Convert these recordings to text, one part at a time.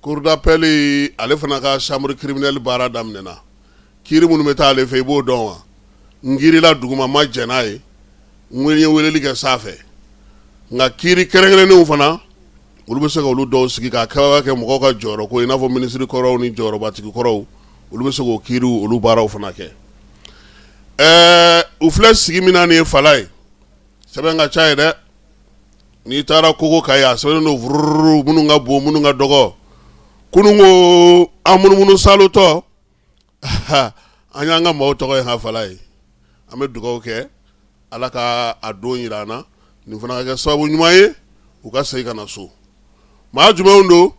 Cour d'appel ale fana ka chambre criminelle baara daminɛna kiri minnu bɛ taa ale fɛ i b'o dɔn wa n kirila duguma ma jɛn n'a ye n ye weleli kɛ sanfɛ nka kiri kɛrɛnkɛrɛnnenw fana olu bɛ se ka olu dɔw sigi ka kɛ mɔgɔw ka jɔyɔrɔ ko i n'a fɔ minisiri kɔrɔw ni jɔyɔrɔbatigi kɔrɔw olu bɛ se k'o kiriw olu baaraw fana kɛ ɛɛ u filɛ sigi min na nin ye Falaye sɛbɛn ka ca yen dɛ n'i taara kogo kan yen a sɛbɛnnen don vururu minnu ka bon minnu ka dɔgɔ kunun ko an munumunusaalotɔ an y'an ka maaw tɔgɔ ye ha Falaye an bɛ dugawu kɛ ala ka a don jira an na nin fana ka kɛ sababu ɲuman ye u ka segin ka na so maa jumɛn don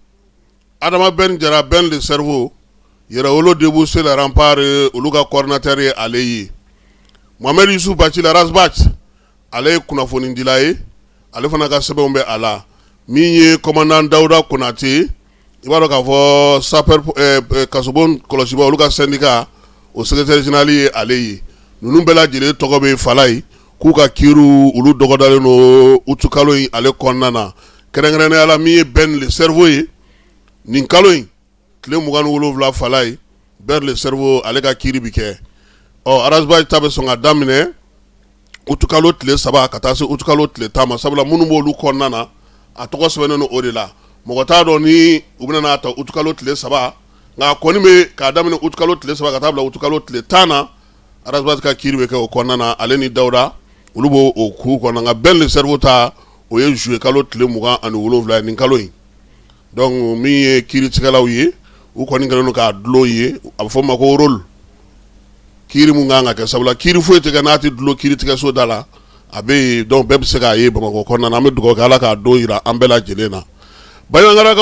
adama bɛ jara bɛn de sariku yɛrɛ olu de b'u seranpri olu ka kɔrɔnɛre ale ye mamari su bacila arasba ale ye kunnafonidila ye ale fana ka sɛbɛnw bɛ a la min ye kɔnnan dawuda konatɛ i b'a dɔn k'a fɔ sap kaso kɔlɔsi olu ka sanni o sɛgɛte zinali ye ale ye ninnu bɛɛ lajɛlen tɔgɔ bɛ fa ye k'u ka kiriw olu dɔgɔdalen don utu kalo in ale kɔnɔna na kɛrɛnkɛrɛnnenya la min ye Ben le Cerveau ye nin kalo in tile mugan ni wolonwula Falaye Ben le Cerveau ale ka kiri bɛ kɛ ɔ Ras Bath ta bɛ sɔn ka daminɛ utu kalo tile saba ka taa se utu kalo tile tan ma sabula minnu b'olu kɔnɔna na a tɔgɔ sɛbɛnnen don o de la mɔgɔ t'a dɔn ni u bɛna a ta utukalo tile saba nka a kɔni bɛ k'a daminɛ utukalo tile saba ka taa bila utukalo tile tan na Ras Bath ka kiri bɛ kɛ o kɔnɔna ale ni dawuda olu b'o o ku kɔnɔ nka Ben le Cerveau ta o ye zuye kalo tile mugan ani wolonwula nin kalo in dɔnku min ye kiiritigɛlaw ye u kɔni kɛlen don k'a dulon ye a bɛ fɔ o ma ko rôle kiri min kan ka kɛ sabula kiri foyi tɛ kɛ n'a tɛ dulon kiritigɛso da la a bɛ yen dɔnku bɛɛ bɛ se k'a ye bamakɔ kɔnɔna an bɛ dugawu kɛ ala k'a don jira an bɛɛ lajɛlen na Baɲangara